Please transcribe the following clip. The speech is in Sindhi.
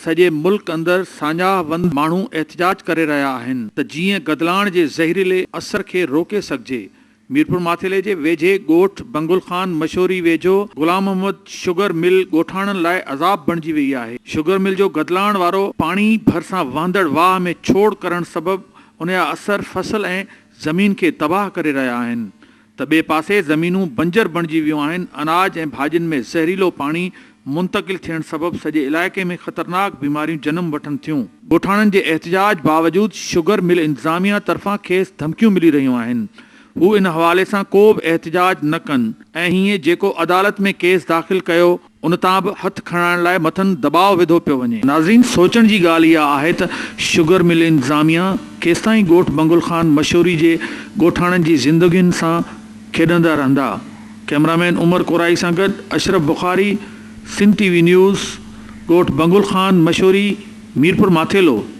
سڄي ملڪ اندر ساڃاهه وند ماڻهو احتجاج ڪري رهيا آهن ته جيئن گدلاڻ جي زهريلي اثر کي روڪي سگهجي، ميرپورماٿيلي جي ويجهي ڳوٺ بنگل خان مشوري ويجهو غلام محمد شگر مل ڳوٺاڻن لاء عذاب بڻجي وئي آهي، شگر مل جو گدلاڻ وارو پاڻي ڀرسان وهندڙ واهه ۾ ڇوڙ ڪرڻ سبب انجا اثر فصل ۽ زمين کي تباهه ڪري رهيا آهن، ته ٻئي پاسي زمينون بنجر بڻجي ويون آهن، اناج ۽ ڀاڄين ۾ زهريلو پاڻي منتقل ٿيڻ سبب سڄي علائقي ۾ خطرناڪ بيماريون جنم وٺن ٿيون. ڳوٺاڻن جي احتجاج باوجود شگر مل انتظاميه طرفان کيس ڌمڪيون ملي رهيون آهن، هو ان حوالي سان ڪو به احتجاج نه ڪن ۽ هيئن جيڪو عدالت ۾ ڪيس داخل ڪيو، ان تان به هٿ کڻائڻ لاء مٿن دٻاء وڌو پيو وڃي. ناظرين سوچڻ جي ڳالهه اها آهي ته شگر مل انتظاميه ڪيستائين ڳوٺ بنگل خان مشوري جي ڳوٺاڻن جي زندگين سان کيڏندا رهندا. ڪئميرا مين عمر ڪورائي سان گڏ Ashraf Bukhari Sindh T V news ڳوٺ بنگل خان مشوري ميرپور ماٿيلو.